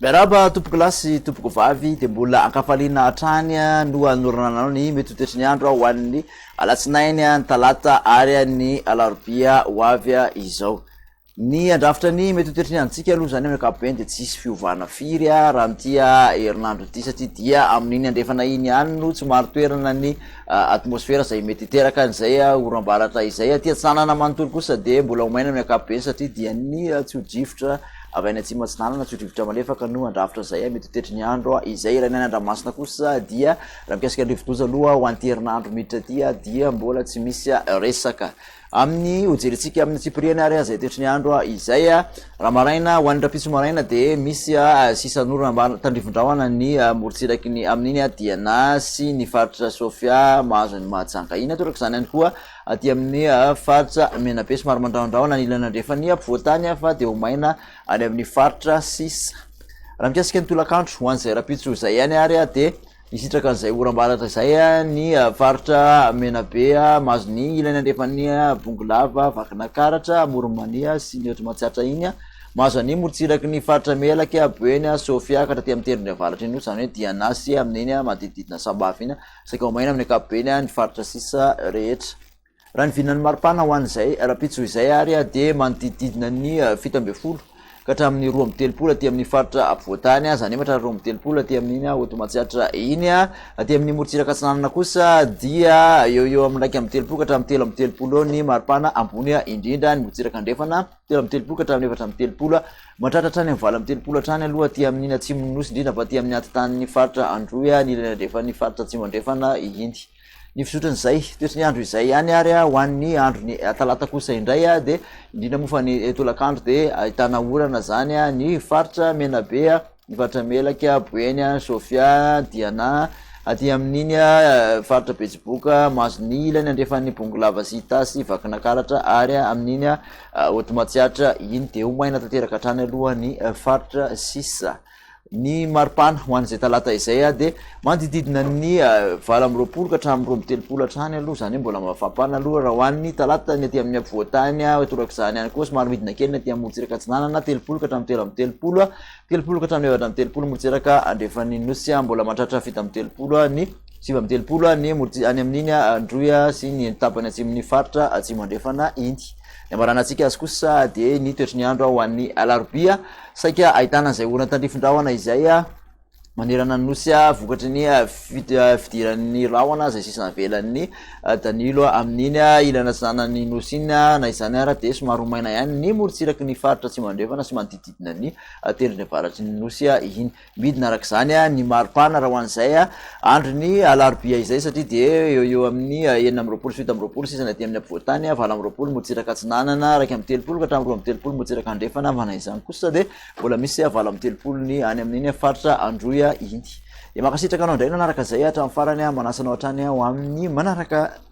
Miarahaba tompoko lahy sy tompoko vavy dia mbola ankafaliana hatrany ah, no anorananao ny mety hotoetry ny andro ah, ho an'ny alatsinainy ah, ny talata ary ny alarobia ho avy izao Ny handrafitra ny mety ho toetry ny androntsika aloha izany amin'ny ankapobeny dia tsy hisy fiovana firy raha amin'ity herinandro ity satria dia amin'iny andrefana iny ihany no tsy marin-toerana ny atmosfera izay mety hiteraka an'izay oram-baratra izay. Aty atsinanana manontolo kosa dia mbola ho maina ny ankapobeny satria dia ny tsio-drivotra avy any atsimo atsinanana, tsio-drivotra malefaka no handrafitra izay mety ho toetry ny andro izay. Ilay ny any Andramasina kosa dia raha mikasika ny rivo-doza aloha ho an'ity herinandro miditra ity dia mbola tsy misy resaka. Amin'ny hojerentsika amin'ny antsipiriany ary izay toetry ny andro izay, raha maraina ho an'ny rahampitso maraina dia misy sisa an'orana ambany tandrifin-drahona ny morontsiraky ny amin'iny Diana sy ny faritra Sofia mahazo an'i Mahajanga iny. Toraka izany ihany koa aty amin'ny faritra Menabe somary mandrahondrahona ny ilany andrefan'ny ampovoantany fa dia ho maina any amin'ny faritra sisa. Raha mikasika ny tolakandro ho an'izay rahampitso izay ihany ary dia Hisitraka an'izay oram-baratra izay ny faritra Menabe, mahazo ny ilany andrefan'ny Bongolava, Vakinakaratra, Amoron'Mania sy ny ohatry Matsiatra iny, mahazo an'ny morotsiraky ny faritra Melaky, Boeny, Sofia, ka taty amin'ny tendrony avaratra iny kosa, izany hoe Diana sy amin'iny manodidididina Sambava iny, saika ho maina amin'ny ankapobeny ny faritra sisa rehetra. Raha ny vinan'ny maripana ho an'izay rahampitso izay ary dia manodidididina ny fito ambin'ny folo ka hatramin'ny roa amby telopolo aty amin'ny faritra ampovoan-tany, izany efatra ary roa amby telopolo aty amin'iny Hotomatsiatra iny. Aty amin'ny morontsiraka atsinanana kosa dia eo ho eo amin'ny iraika amby telopolo ka hatramin'ny telo amby telopolo eo ny maripana ambony indrindra, ny morontsiraka andrefana telo amby telopolo ka hatramin'ny efatra amby telopolo, mahatratra hatrany amin'ny valo amby telopolo hatrany aloha aty amin'iny atsimon'ny Nosy indrindra fa aty amin'ny anti-tanin'ny faritra Androy, ny ilany andrefan'ny faritra atsimo andrefana iny. Ny fizotran'izay toetry ny andro izay ihany ary ho an'ny andron'ny talata kosa indray dia indrindra moa fa ny tolakandro dia ahitana orana zany ny faritra Menabe, ny faritra Melaka, Boeny, Sofia, Diana, aty amin'iny faritra Betsiboka, Mason'Ily, ilany andrefan'ny Bongolava sy Itasy, Vakinakaratra ary amin'iny Haute Matsiatra iny dia ho maina tanteraka hatrany aloha ny faritra sisa. Ny maripana ho an'izay talata izay dia manodididina ny valo amby roapolo ka hatramin'ny roa amby telopolo hatrany aloha, izany hoe mbola mafampana aloha raha ho an'ny talata ny aty amin'ny afovoan-tany, torak'izany ihany koa somary midina kely ny aty amin'ny morotsiraka atsinanana, telopolo ka hatramin'ny telo amby telopolo, telopolo ka hatramin'ny efatra amby telopolo morotsiraka andrefan'ny nosy, mbola mahatratra fito amby telopolo ny. sivy amby telopolo any Amoritsika, any amin'iny Androy sy ny tapany atsimon'ny faritra Atsimo Andrefana iny. Ny hamaranantsika azy kosa dia ny toetry ny andro ho an'ny Alarobia, saika ahitana an'izay orana tandrifin-drahona izay manerana ny Nosy vokatry ny fidiran'ny rahona izay sisa navelan'ny Danilo amin'iny ilany atsinanan'ny Nosy iny. Na izany ara dia somary ho maina ihany ny morontsiraky ny faritra Atsimo Andrefana sy manodidididina ny Tendrony Avaratry ny Nosy iny. Midina araka izany ny mari-pana raha ho an'izay andron'ny alarobia izay satria dia eo ho eo amin'ny enina amby roapolo sy fito amby roapolo sisa ny aty amin'ny afovoan-tany, valo amby roapolo motsiraka atsinanana, iraika amby telopolo ka hatramin'ny roa amby telopolo motsiraka andrefana, manana izany kosa dia mbola misy valo amby telopolo ny any amin'iny faritra Androy iny. Dia mankasitraka anao indray nanaraka izay hatramin'ny farany, manasa anao hatrany ho amin'ny manaraka.